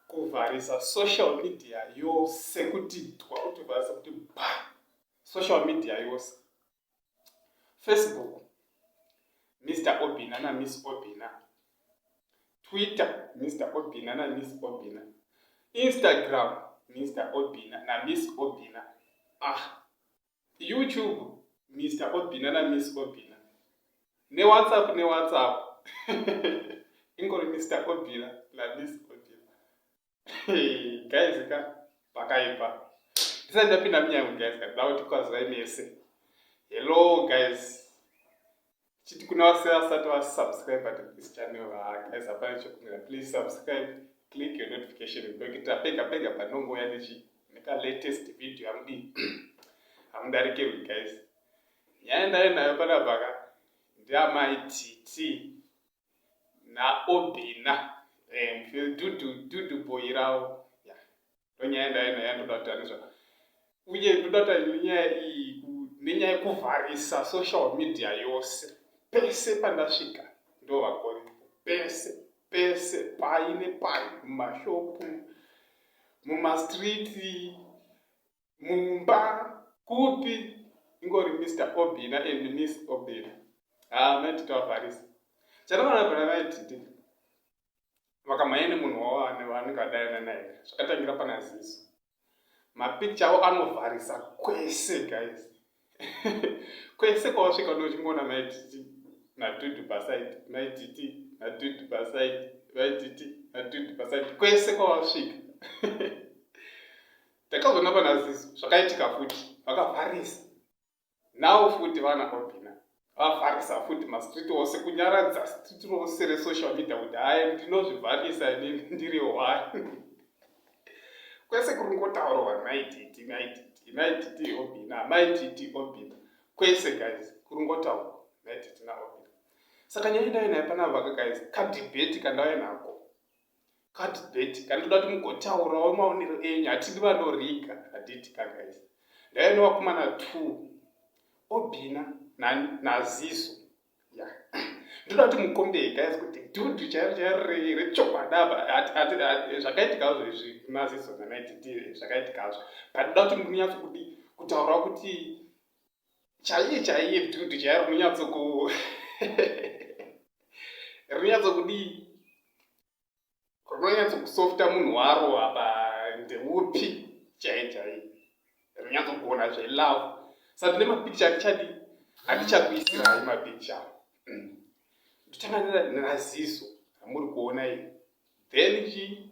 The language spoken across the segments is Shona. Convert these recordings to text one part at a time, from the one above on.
kuvharisa social media yose kuti twa kuti vharisa kuti ba social media yose facebook mr obina na miss obina twitter mr obina na miss obina instagram mr obina na miss obina ah YouTube Mister Obina na Miss Obina ne WhatsApp ne WhatsApp ingori Mister Obina na Miss Obina guys ka pakaipa ndisati ndapinda munyango guys ka ndauti kwazai mese hello guys chiti kuna vase vasati vasubscribe but this channel guys hapana chekumira please subscribe click your notification ndokuita pega pega panongouya nechi neka latest video hamudi hamudarikirwi guys nyaya ndayo nayo panapaka ndiamai titi naobina eh, dudu boyi ravo ndonyaya ndaenda yandoda kuti ane zvaka uye ndoda kuti aine nyaya iyi nenyaya yekuvharisa social media yose pese pandasvika ndovakoni pese pese pai nepai mumashopu mumastriti mumba kupi ingori mr obina and miss obina haa ah, maiti tavharisa chandavana vana vaititi vakamhanya nemunhu wavo anenge adayana naye zvakatangira pana ziso mapicture avo anovharisa kwese guys kwese kwavasvika ndochingoona maititi natudu pasaidi maititi natudu pasaidi maititi natudu pasaidi kwese kwavasvika Takazoona pana Zisu zvakaitika futi vakavharisa. Now futi vana Robina vavharisa futi mastreet ose kunyaradza street rose resocial media kuti hayi ndinozvivharisa inini ndiri one. Kwese kuri kungotaurwa mai Titi, mai Titi, mai Titi Robina, mai Titi Robina. Kwese guys kuri kungotaurwa mai Titi naRobina. Saka nyaya ndaive nayo panapa ka guys kadebate kandave nako kadebate kani toda kuti mugotaurawo maonero enyu hatidi vanoriga haditi kagais ndaive nevakomana two obina naziso ya ndoda kuti mukombei gais kuti dudu chairo chairo rechokwadav zvakaitikazvo izvi maziso nanaititi zvakaitikazvo but ndoda kuti munyatso kuti kutaurawo kuti chaiye chaiye dudu chaiye rinonyatsoku rinonyatsokudii rinonyatsokusofta munhu waro apa ndeupi chaiye chaiye rinonyatsogona zvelove sa tine mapikicha atichadi atichakuisirai mapikicha mm. ndotanga neraziso ramuri kuona iri then chii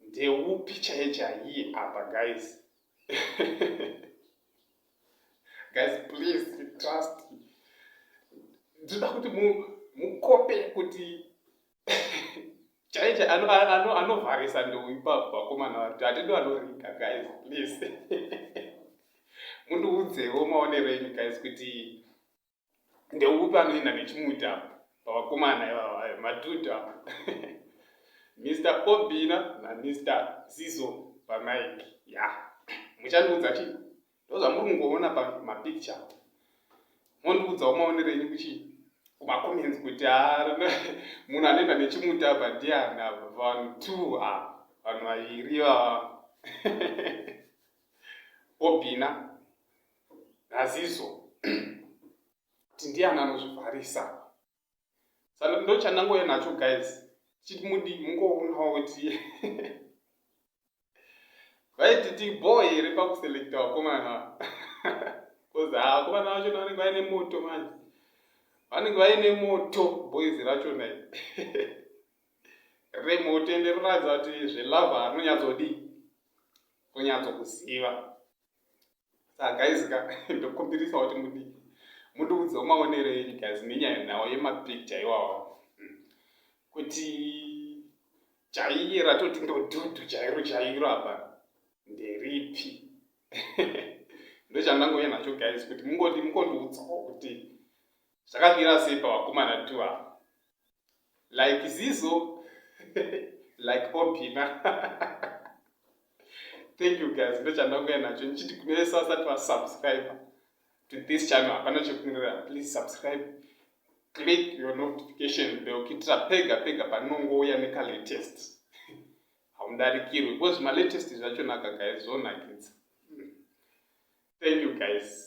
ndeupi chaiye chaiye apa guys guys please trust ndinoda kuti mukope kuti chaiye anovharisa ndeuyu pavakomana vati hatidi vanorika guys please mundiudzewo maonero enyu guys kuti ndeupi anoenda nechimuti apo pavakomana ivava eh, madhudhu apo mr obina namr zizo pamike ya muchandiudza chii ndozvamuri kungoona pamapicture mondiudzawo maonero enyu kuchii kumacomments kuti munhu anoenda nechimuti apa ndiana vanhu two a vanhu vaviri vava obina naziso kuti ndiani anozvivharisa sa ndochandangouya nacho guys chiti mudi mungoonawo kuti vaititi boo here pakuselekta vakomana bcause vakomana vacho vanenge vaine moto manje vanenge vaine moto boys racho nai remoto ende rinoratidza kuti zvelava rinonyatsodii kunyatsokuziva saka guys ka ndokumbirisa kuti mudii mundiudzawo maonero enyu guys nenyaya nhau yemapicture iwawo hmm. kuti chaiye ratoti ndodhudhu chairo chairo apa nderipi ndochandangouya nacho guys kuti mungondiudzawo kuti zvakamira sei pavakomana two ava like zizo like obina thank you guys ndochandauya nacho ndichiti kune vese vasati vasubscribe to this channel hapana chekunirira please subscribe click your notification bell kuitira pega pega panongouya nekalatest haundarikirwi because malatest zvacho nakagaizonakidza thank you guys